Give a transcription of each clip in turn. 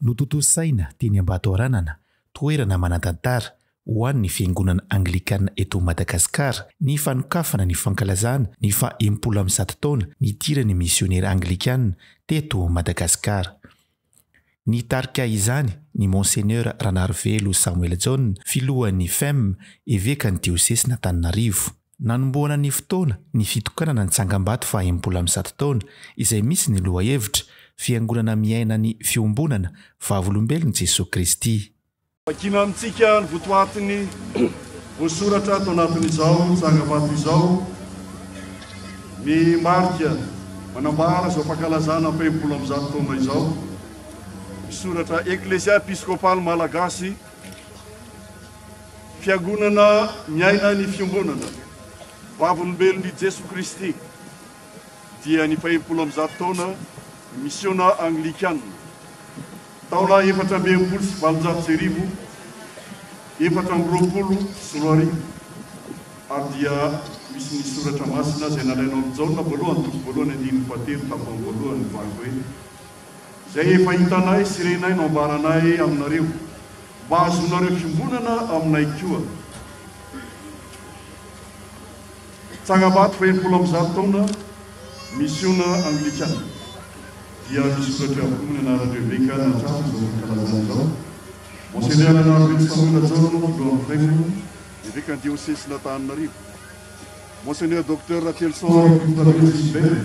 Notontosaina teny Ambatoaranana, toerana manan-tantara ho an'ny Fiangonana Anglikana eto Madagasikara, ny fanokafana ny fankalazana ny faha enimpolo amby zato taona nidiran'ny Misionera Anglikana teto Madagasikara. Nitarika izany ny Monseigneur Ranarivelo Samuel John, Filohan'ny Fem, Evekan'ny Diosesin'Antananarivo. Nanombohana ny fotoana ny fitokanana ny tsangambato fahenimpolo amby zato taona izay misy ny lohahevitra, Fiangonana miaina ny fiombonana, Vavolombelon'i Jesoa Kristy. Vakina amintsika ny votoatin'ny voasoratra ato anatin'izao tsangambato izao, ny marika manambara izao fankalazana fahenimpolo amby zato taona izao, ny soratra Eklezia Episkopaly Malagasy Fiangonana miaina ny Fiombonana Vavolombelon'i Jesoa Kristy dia ny fahefolo amby zato taona ny misiona Anglikana. Taona efatra amby enimpolo sy valonjato sy arivo, efatra amby roapolo sy roa arivo, ary dia misy ny Soratra Masina izay nalaina ao amin'ny Jaona voalohany, toko voalohany, andininy fahatelo, tapany voalohany, mivaky hoe. Izay efa hitanay sy renay no ambaranay aminareo, mba hahazoanareo fiombonana aminay koa. Tsangambato fahenimpolo amby zato taona, Misiona Anglikana. Dia misoratra avokoa ny anaran'ireo eveka nahatratra izao fankalazana izao, Monseigneur Rahavelo Samuel Rajaona, Filohan'ny Flainville, Evekan'ny Diosesin'Antananarivo, Monseigneur Docteur Ratelson Rakotoarivo Gilbert,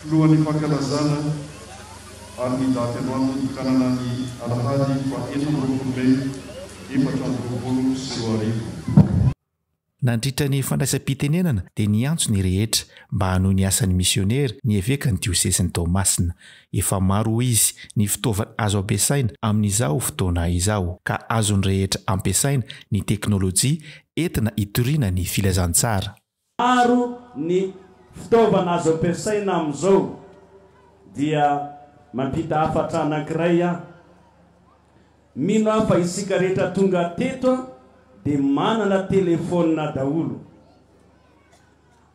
Filohan'ny fankalazana ary ny daty androany nitokanana ny alahady faha enina amby roapolo mey efatra amby roapolo sy roa arivo. Nandritra ny fandraisam-pitenenana dia niantso ny rehetra mba hanohy ny asan'ny misionera ny evekan'ny diosezin'i Toamasina. Efa maro hoy izy ny fitaovana azo ampiasaina amin'izao fotoana izao ka azon'ny rehetra ampiasaina ny teknolojia entina hitoriana ny filazantsara. Maro ny fitaovana azo ampiasaina amin'izao dia mampita hafatra anankiray aho. Mino aho fa isika rehetra tonga teto dia manana telefaonina daholo.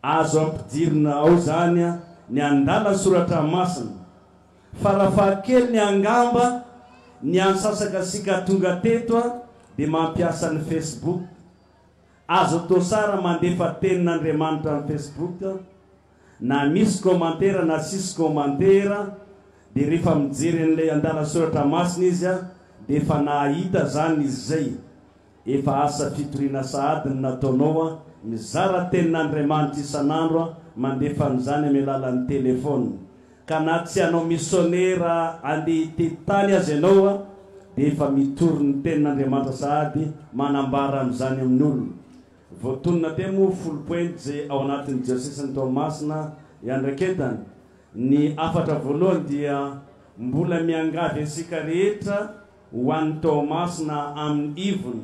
Azo ampidirina ao izany ny andalan-tsoratra masina. Farafahakeliny angamba ny antsasak'asika tonga teto dia mampiasa ny Facebook. Azo atao sara mandefa tenin'Andriamanitra am Facebook na misy kômantera na tsisy kômantera dia rehefa mijery an'ilay andalasoratra masina izy a dia efa nahahita zany izy zay efa asa fitoriana sahady ny nataonao a mizara tenin'Andriamanitra isan'andro a mandefa an'izany amy alalan'ny téléphone Ka na tsy hanao misionera handeha hitety tany aza ianao dia efa mitory ny tenin'Andriamanitra sahady manambara an'izany amin'ny olona. Voatonona teo moa folo pejy ao anatin'ny diosesin'i Toamasina iandraiketany. Ny hafatra voalohany dia mbola miangavy antsika rehetra ho any Toamasina amin'ny ivony.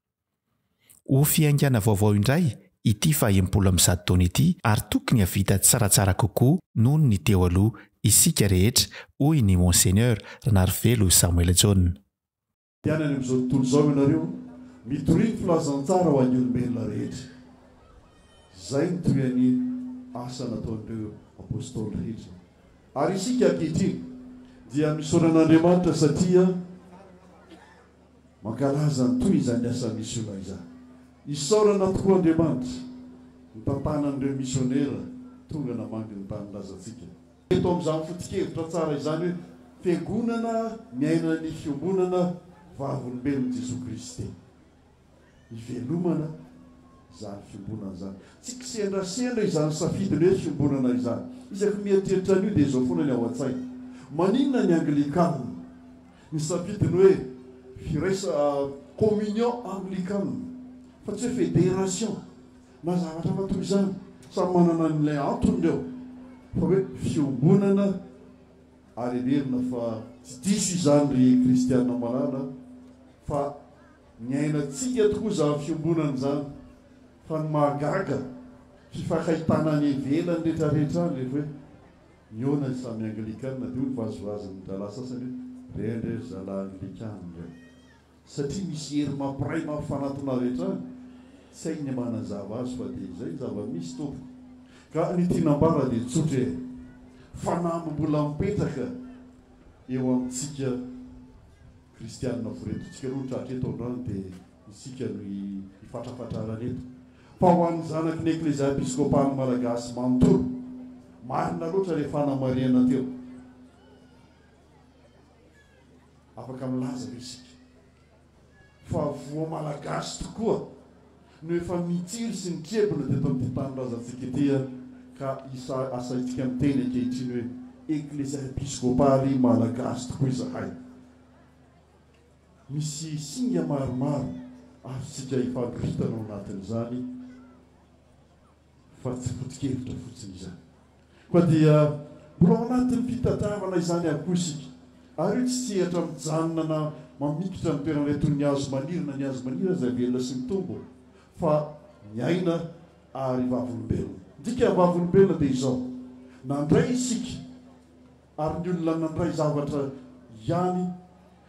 Ho fiaingàna vaovao indray ity fahenimpolo amby zato taona ity ary tokony hahavita tsaratsara kokoa noho ny teo aloha isika rehetra, hoy ny Monseigneur Ranarivelo Samuel Jaona. Dia any amin'izao tontolo izao ianareo, mitoria ny filazantsara ho an'ny olombelona rehetra. Izay no tohian'ny asa nataon'ireo Apostoly rehetra. Ary isika ankehitriny dia misaotra an'Andriamanitra satria. Mankalaza ny toy izany asa misiona izany. Isaorana tokoa Andriamanitra nitantanany ireo misionera tonga namangy ny tanindrazantsika. Eto amin'izany foto-kevitra tsara izany hoe Fiangonana miaina ny fiombonana vavolombelon'i Jesoa Kristy. hivelomana izany fiombonana izany. Tsy kisendrasendra izany safidin'ny hoe fiombonana izany. Isaky ny mieritreritra an'io dia izao foana ny ao an-tsaina, Maninona ny Anglikana nisafidy ny hoe firaisa, communion anglicane, fa tsy hoe fédération na zavatra hafa toy izany? Samy manana an'ilay antony ireo, fa hoe fiombonana, ary heverina fa tsy diso izany ry kristiana malala fa. Niainantsika tokoa izany fiombonana izany fa ny mahagaga fifakahitana any ivelany retraretra any rehefa hoe mihaona ny samy anglikana dia hoy ny vazivazin'ny rahalahy sasany hoe re andre ry zalahy anglikana re satria misy hery mampiray mampifanatona avy hatrany tsy hay ny manazava azy fa dia izay ny zava-misy tompoko ka ny tiana ambara dia tsotra e fanamby mbola mipetraka eo amintsika Kristianina voretontsika roa tratra eto androany dia isika no hifatrafatrarana eto. Fa ho an'ny zanaky ny Eklezia Episkopal'ny Malagasy manontolo, marina loatra ilay fanamarihana teo. Afaka milaza ve isika fa voa Malagasy tokoa? no efa nitsiry sy nitrebona teto amin'ity tanindrazantsika ity ka isa asaintsika miteny ankehitriny hoe Eklesia Episkopaly Malagasy tokoa izahay. Misy singa maromaro azontsika ifanoritana ao anatin'izany. fa tsy foto-kevitra fotsiny izany, fa dia mbola ao anatin'ny fitadiavana izany ihany koa isika, ary io tsy sehatra mijanona na mamikitra ny toeran'ilay toy ny hazo maniry na ny hazo maniry aza velona sy mitombo, fa miaina ary vavolombelona. Ny dika vavolombelona dia izao, nandray isika. Ary ny olona nandray zavatra ihany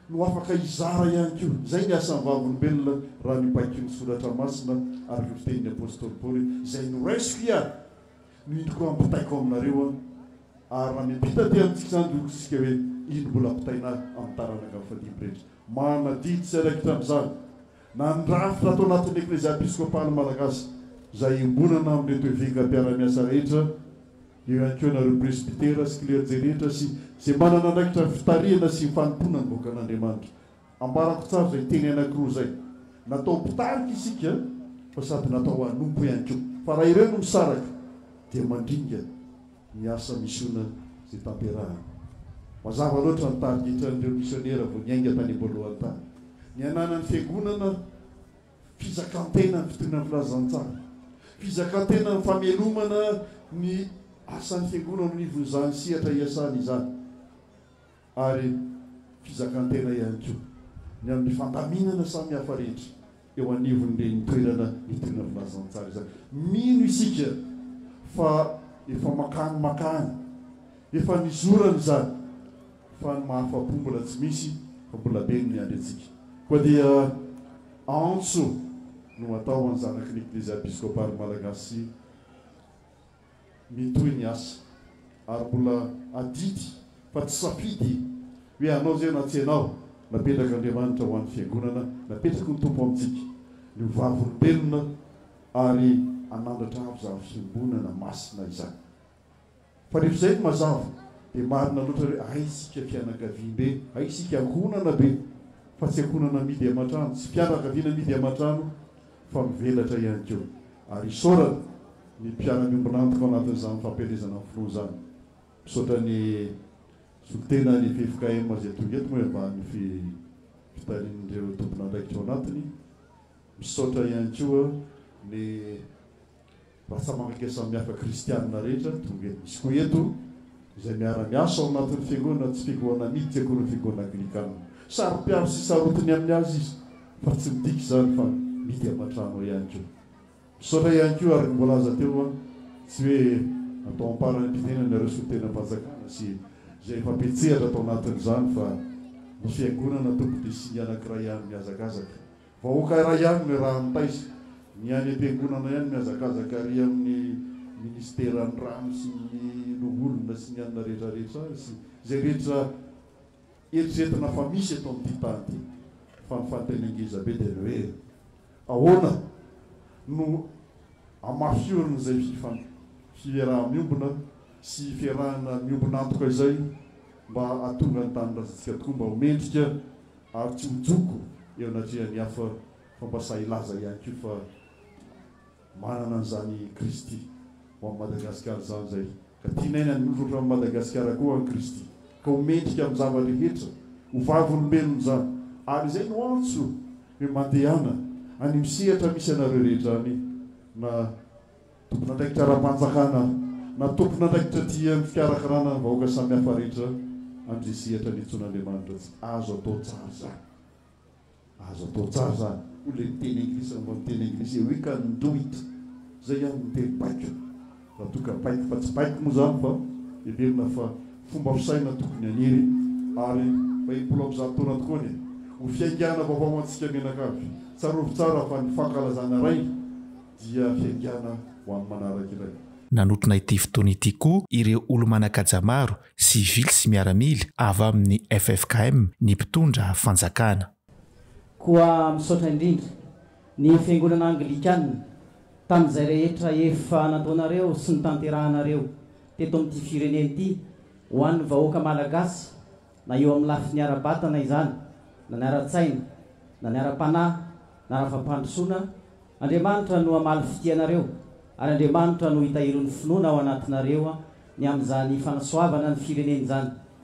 no afaka hizara ihany koa. Izay ny asan'ny vavolombelona raha ny baiko ny soratra masina ary io fitenin'ny apostoly Paoly hoe, Izay noraisiko ia, no indroko ampitaiko aminareo an. Ary raha miampita aty amintsika izany dia hoy isika hoe, Iny mbola ampitaina amin'ny taranaka fadimy rehetra. Manadidi sy raikitra amin'izany na ny rafitra ato anatin'ny Eklezia Episkopaly Malagasy izay iombonana amin'ireto eveka mpiara-miasa rehetra, Eo ihany koa nareo presbytera sy klerjé rehetra sy izay manana andraikitra ny fitarihana sy ny fanompoana ny vahoakan'Andriamanitra. Ambarako tsara izay teny anankiroa izay. Natao mpitarika isika fa sady natao hanompo ihany koa. Fa raha ireo no misaraka dia mandringa ny asa misiona izay tanterahana. Mazava loatra ny tarigetran'ireo misionera vao niainga tany am-boalohany tany. Ny ananan'ny fiangonana. Fizakan-tena ny fitoriana ny filazantsara. Fizakan-tena ny famelomana ny asan'ny Fiangonana eo anivon'izany sehatra iasany izany. Ary fizakan-tena ihany koa ny amin'ny fandaminana samihafa rehetra eo anivon'ireny toerana nitoriana filazantsara izany. Mino isika fa efa makany makany efa nizorana izany. Fa ny mahafa-po mbola tsy misy fa mbola be ny miandry antsika. Koa dia antso no atao ho an'ny zanaky ny Eklezia Episkopary Malagasy mitohy ny asa. Ary mbola adidy fa tsy safidy hoe hanao izay na tsy hanao. Napetrak'Andriamanitra ho an'ny Fiangonana, napetraky ny Tompo amintsika ny ho vavolombelona ary hanandratra avy izany Fiombonana masina izany. Fa rehefa izay no mazava dia marina loatra hoe hay isika fianakaviambe, hay isika ankohonana be fa tsy ankohonana amidy aman-trano, tsy fianakaviana amidy aman-trano fa mivelatra ihany koa. Ary isaorana ny mpiara-miombon'antoka ao anatin'izany fampielezana ny filoha izany. Misaotra ny solotena ny ffkm izay tonga eto moa eo ambanin'ny fitarian'ireo tompon'andraikitra ao anatiny. Misaotra ihany koa ny. Mpatsamandinika samihafa kristianina rehetra tonga eto. Misy koa eto izay miara-miasa ao anatin'ny fiangonana tsy fiangonana miditra akory ny fiangonana anglikanina. Saro-piaro sy sarotiny amin'ny azy izy fa tsy midika izany fa mihidy aman-trano ihany koa. Misaotra ihany koa araka ny voalaza teo fa tsy hoe atao am-parany am-pitenenana ireo solontenam-panjakana sy izay efa mpiantsehatra tao anatin'izany fa ny fiangonana tompon-dRisiny anankiray ihany mihazakazaka. Vahoaka iray ihany no iarahan'ny taiza, ny any am-piangonana ihany mihazakazaka ary amin'ny ministeran'ny rano sy ny loholona sy ny anona rehetra rehetra sy izay rehetra eritreretina fa misy eto amin'ity tany ity. Fa ny fanontaniana ngeza be dia ny hoe ahoana no amafihorina izay fiaraha-miombona sy fiarahana miombon'antoka izay mba hahatonga ny tanindrazantsika tokoa mba ho mendrika Ary tsy ho joko eo anatrehan'ny hafa fa mba sahy hilaza ihany koa fa manana an'izany i Kristy ho an'i Madagasikara izany izay ka tianaina ny hozatra amin'i Madagasikara koa an'i Kristy ka ho mendrika amin'ny zava-drehetra ho vavolombelony izany ary izay no antso hoe mandehana any amin'ny sehatra misy anareo rehetra any na Tompon'andraikitra ara-panjakana na tompon'andraikitra aty amin'ny fikarakarana ny vahoaka samihafa rehetra an-dresehatra niantsoana Andriamanitra tsy azo atao tsara izany. Azo atao tsara izany, hoy ilay miteny anglisy raha mba miteny anglisy, we can do it, izay ihany no teny baiko, raha toa ka baiko fa tsy baiko moa izany fa heverina fa fomba fisaina tokony haniry ary mba impolo amby zato taona tokoa anie ho fiaingàna vaovao ho antsika mianakavy. Tsarovy tsara fa ny fankalazana ray dia fiaigana ho an'ny manaraka iray. Nanotrona ity fotoana ity koa ireo olo-manan-kaja maro, sivily sy miaramila, avy amin'ny ffkm, ny mpitondra fanjakana. Koa misaotra indrindra ny Fiangonana Anglikana tamin'izay rehetra efa nataonareo sy nitanterahanareo teto amin'ity firenena ity ho an'ny vahoaka Malagasy, na eo amin'ny lafiny ara-batana izany, na ny ara-tsaina, na ny ara-panahy, na ara-fampandrosoana, Andriamanitra no hamaly fitia anareo, ary Andriamanitra no hitahiry ny finoana ao anatinareo ny amin'izany fanasoavana ny firenena izany.